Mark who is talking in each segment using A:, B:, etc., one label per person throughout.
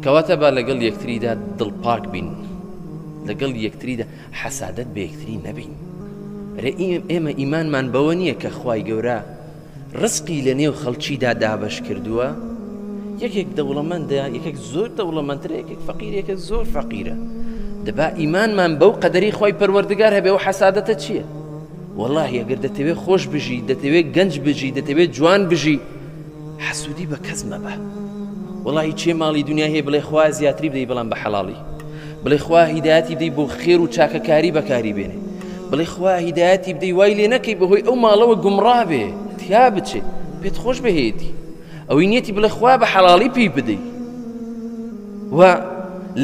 A: کەواتە با لەگەڵ یەکتریدا دڵپاک بین لەگەڵ یەکتریدا حەسادت بە یەکتری نەبین رێ ئێمە ئیمانمان بەوە نییە کە خوای گەورە ڕسقی لە نێو خەڵکیدا دابش کردووە یەکێک دەوڵەمەندە یەکێک زۆر دەوڵەمەندرە یەکێک فەقیرێکە زۆر فەقیرە دەبا ئیمانمان بەو قەدەری خی پەروەردگار هەبێ و حەسادەتە چییە؟ والله یەگەر دەتەوێت خۆش بژی دەتەوێت گەنج بژی دەتەوێت جوان بژی حەسودی بە کەس مەبە وەڵاهی کێ ماڵی دونیای هەیە بڵێ خوایە زیاتری بدەی بەڵام بە حەڵاڵی بڵێ خوا هیدایەتی بدەی بۆ خێر و چاکەکاری بەکاری بێنێ بڵێ خوا هیدایەتی بدەی وای لێ نەکەی بەهۆی ئەو ماڵەوە گومڕا بێ تیا بچێ پێت خۆش بهێتی ئەوەی نیەتی بڵێ خوا بە حەڵاڵی پێی بدەی و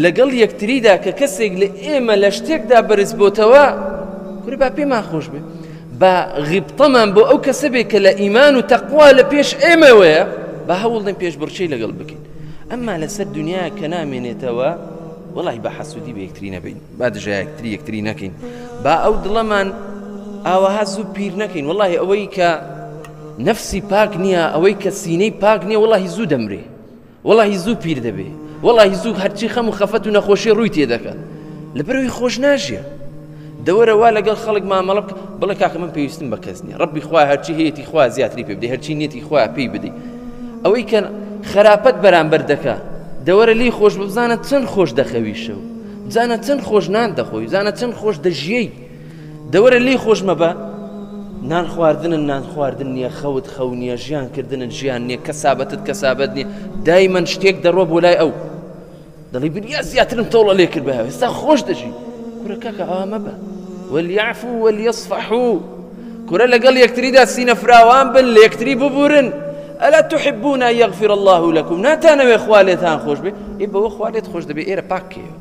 A: لەگەڵ یەکتریدا کە کەسێک لە ئێمە لە شتێکدا بەرز بۆتەوە کورە با پێمان خۆش بێ با غیبتەمان بۆ ئەو کەسە بێ کە لە ئیمان و تەقوا لە پێش ئێمەوەیە با هەوڵدەین پێش بڕچەی لەگەڵ بکەین ئەمما لەسەر دنیا کە نامێنێتەوە وڵی بە حەسوودی بە یەکتری نەبین با دژە یەکتری یەکتری نەکەین با ئەو دڵەمان ئاوەها زوو پیر نەکەین وڵی ئەوەی کە نەفسی پاک نییە ئەوەی کە سینەی پاک نییە وڵی زوو دەمرێ وەڵاهی زوو پیر دەبێ وەڵاهی زوو هەرچی خەم و خەفەت و نەخۆشی ڕووی تێدەکە لەبەرەوەی خۆش ناژیە دەوەرە وا لەگەڵ خەڵک مامەڵە بکە بڵێ کاکە من پێویستم بە کەس نییە ڕبی خوا هەرچی هەیەی خوا زیاتری پێ بدەی هەرچی نیەتی خوا پێی بدەی ئەوەی کە خراپەت بەرامبەر دەکە دەوەرە لی خۆش بزانە چەند خۆش دەخەویشەوە بزانە چەند خۆش نان دەخۆی بزانە چەند خۆش دەژیەی دەوەرە لێی خۆش مەبە نان خواردنن نان خواردن نییە خەوت خەو نییە ژیان کردنن ژیان نییە کە سابەتت کە سابەت نییە دای من شتێک دەڕۆ بۆ لای ئەو دەڵی بریا زیاترم تۆڵە لێ کرد بە ئێستا خۆش دەژی کورەکەکە ئامە بە وەلیعفو وەلیەصفحو کورە لەگەڵ یەکتریدا سینە فراوان بن لە یەکتری ببورن ئەلا تحبونا یغفر الله لكم ناتانەوێ خوا لێتان خۆش بێ ئێ بەوە خوا لێت خۆش دەبێ ئێرە پاکەیە